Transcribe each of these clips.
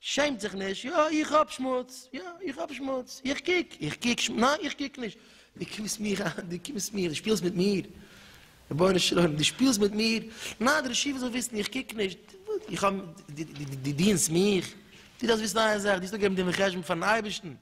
שעמט זיך נישט, יא איך האב שמוץ, יא איך האב שמוץ, איך קוק, איך קוק שמוץ, ניין איך קוק נישט, דו קומסט מיר אהן, דו קומסט מיר, דו שפילסט מיט מיר, רבונו של עולם דו שפילסט מיט מיר, ניין דער רשי וואס זאל וויסן איך קוק נישט, איך האב, דו דינסט מיך, דו דארפסט וויסן איין זאך, דו האסט אפגעגעבן דין וחשבון פארן אייבערשטן,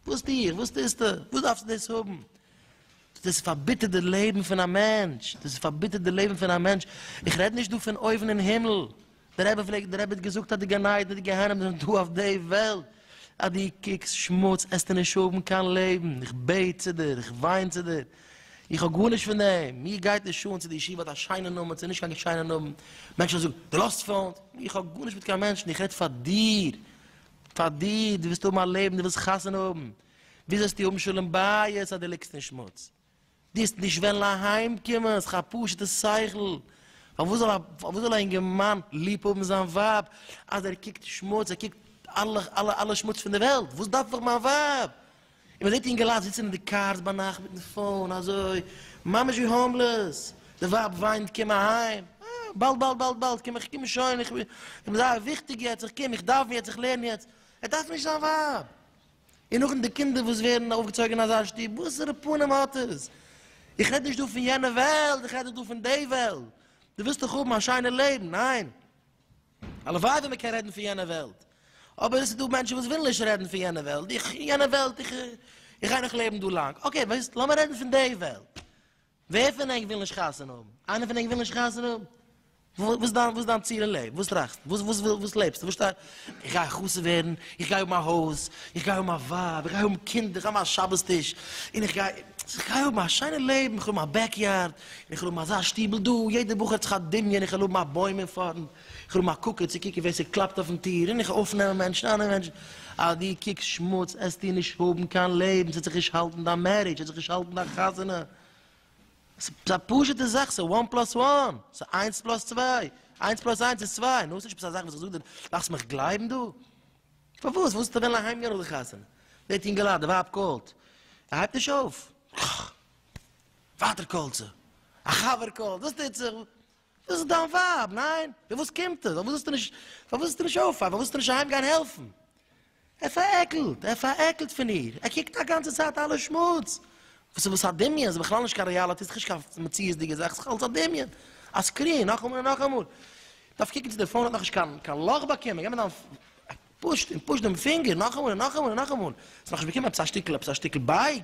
וואס טו איך, וואס טוסטו, וואס דארפסטו דאס האבן, דאס פארביטערט די לעבן פון א מענטש, דאס פארביטערט די לעבן פון א מענטש, איך רעד נישט דא פון אויבן אין הימל, דער רבי פלעגט דער רבי האט געזאגט אז די גן עדן און די גיהנום זענען דא אויף די וועלט, אז דו קוקסט שמוץ עסטו נישט האבן קיין לעבן, איך בעט צו דיר, איך וויין צו דיר, איך האב גארנישט פון דעם, מיר גייט נישט אן צו די ישיבה האט א שיינע נאמען צו נישט קיין שיינע נאמען, מענטשן זאגן דו לאזט פארנט, איך האב גארנישט מיט קיין מענטשן, איך רעד פאר דיר, פאר דיר, דו ווילסט האבן א לעבן, דו ווילסט חתונה האבן, ווי זאלסטו האבן שלום בית אז דו ליגסט אין שמוץ? דארפסט נישט וועלן אהיים קומען, ס'איז א פשוטע שכל, פארוואס זאל א פארוואס זאל א אינגערמאן ליב האבן זיין ווייב אז ער קוקט שמוץ, ער קוקט אלע אלע אלע שמוץ פון די וועלט, וואס דארף איך מיין ווייב? און מען זעט אינגעלייט זיצן אין די קארס ביינאכט מיטן פאון אזוי ממש ווי האומלעס, די ווייב וויינט קום אהיים, אה, באלד באלד באלד באלד קום איך קום שוין, איך בין זייער וויכטיג יעצט, איך קום, איך דאוון יעצט, איך לערן יעצט, ער דארף נישט זיין ווייב. און נאכדעם די קינדער וואס ווערן אויפגעצויגן אין אזא שטוב, וואסערע פנים האט עס? איך רעד נישט דא פון יענע וועלט, איך רעד דיר דא פון די וועלט. דו ווילסט דאך האבן א שיינע לעבן, ניין? הלוואי ווען מען קען רעדן פון יענע וועלט. אבער עס איז דא מענטשן וואס ווילן נישט רעדן פון יענע וועלט, איך, יענע וועלט, איך, איך גיי נאך לעבן דא לאנג. אקעי, וועסט, לאמיר רעדן פון די וועלט. ווער פון ענק וויל נישט חתונה האבן? איינער פון ענק וויל נישט חתונה האבן? וואס דיין וואס דיין ציל אין לעבן? וואס טראכסטו? וואס וואס וויל וואס לעבסטו? וואס שטאר איך גיי חתונה ווערן, איך גיי האבן א הויז, איך גיי האבן א ווייב, איך גיי האבן קינדער, איך גיי האבן א שבת טיש, און איך גיי איך גיי האבן א שיינע לעבן, איך וויל האבן א בעק יארד, און איך וויל האבן אזא שטיבל דא, יעדער בחור האט זיך א דמיון איך וויל האבן א בוים אין פארנט, כ'רוף מיין קוקער צו קוקן ווער ס'קלאפט אויפן טיר, און איך אויף נעמען מענטשן, אנע מענטשן. אז דו קוקסט שמוץ, עסטו נישט האבן קיין לעבן, ס'עט זיך נישט האלטן דיין מערידזש, ס'עט זיך נישט האלטן דיין חתונה. ס'א פשוטע זאך, ס'איז וואן פלאס וואן, ס'איז איינס פלאס צוויי, איינס פלאס איינס איז צוויי, נו, ס'נישט עפעס א זאך וואס איך זאג דיר, מאכסט מיך גלייבן דא? פארוואס ווילסטו וועלן אהיים גיין נאך די חתונה? דער טינגעלאד, די ווייב קאלט, ער הייבט נישט אויף, ווייטער קאלט זי, א חבר קאלט, וואס טוט זיך? דאס איז דיין ווייב, ניין? פון וואס קומט עס? פארוואס זאלסטו נישט, פארוואס זאלסטו נישט אויפפארן? פארוואס זאלסטו נישט אהיים גיין העלפן? ער פארעקלט, ער פארעקלט פון איר, ער קוקט א גאנצע צייט אלע שמוץ. וואס איז עס א דמיון? ס'איז בכלל נישט קיין ריאליטי, ס'איז נישט קיין מציאות'דיגע זאך, ס'איז אלס א דמיון, א סקרין, נאכאמאל און נאכאמאל. דארף קוקן צו די פאון האט נאכנישט קיין קיין לאך באקומען, גיי מיט דיין פוש און פוש דעם פינגער, נאכאמאל און נאכאמאל און נאכאמאל. ס'האט נאכנישט באקומען עפעס א שטיקל, עפעס א שטיקל בייג.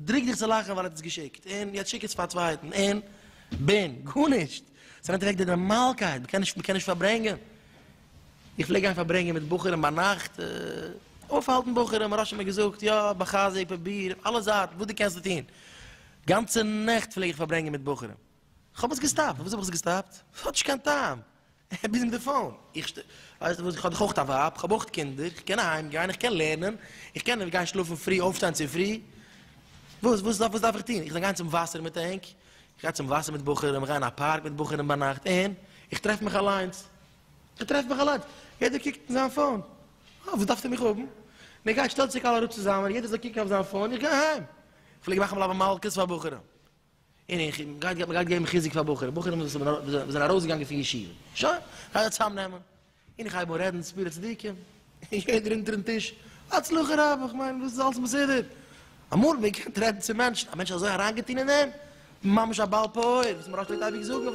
דרוק דיך צו לאכן ווייל ער האט עס געשיקט, און יעצט שיק עס פאר א צווייטן, און בין, גארנישט! עס נעמט אוועק די נארמאלקייט, מען קען נישט, מען קען נישט פארברענגען. איך פלעג גיין פארברענגען מיט בחורים ביינאכט, אויפהאלטן בחורים, הרב שך מיר געזאגט, יא, בחזק, פרוביר, אויף אלע זייטן, וואס דו קענסט טון. גאנצע נעכט פלעג איך פארברענגען מיט בחורים. כ'האב עס געסטאפט. פארוואס האב איך עס געסטאפט? ס'האט נישט קיין טעם. איך בין אין די פאון. איך שטער. ווייסט וואס, איך האב דאך אויך א ווייב, איך האב אויך קינדער, איך קען אהיים גיין, איך קען לערנען, איך קען גיין שלאפן פרי, אויפשטיין צופרי. וואס, וואס דארף, וואס דארף איך טון? איך זאל גיין צום וואסער מיט ענק? איך גיי צום וואסער מיט בחורים, איך גיי אין א פארק מיט בחורים ביינאכט, און? איך טרעף מיך אליינס. איך טרעף מיך אליינס. יעדער קוקט אין זיין פאון. אה, וואס דארפסטו מיך האבן? מען גייט, שטעלט זיך אלע אראפ צוזאמען, יעדער זאל קוקן אויף זיין פאון, איך גיי אהיים. איך פלעג מאכן בלאבע מלקות פאר בחורים. און איך און גייט גייט מ'גייט געבן חיזוק פאר בחורים בחורים וואס האבן וואס זענען ארויסגעגאנגען פון ישיבה שוין גייט זיי צוזאם נעמען און איך הייב אן רעדן ספירה צדיקים און יעדער אונטערן טיש הצלחה רבה כ'מיין וואס איז אלס מסודר אמאל ווען מ'קען רעדן צו מענטשן א מענטש איז אזוי אריינגעטון אין דעם ממש א בעל פעור וואס מ'רעדט פלעגט אייביג זאגן.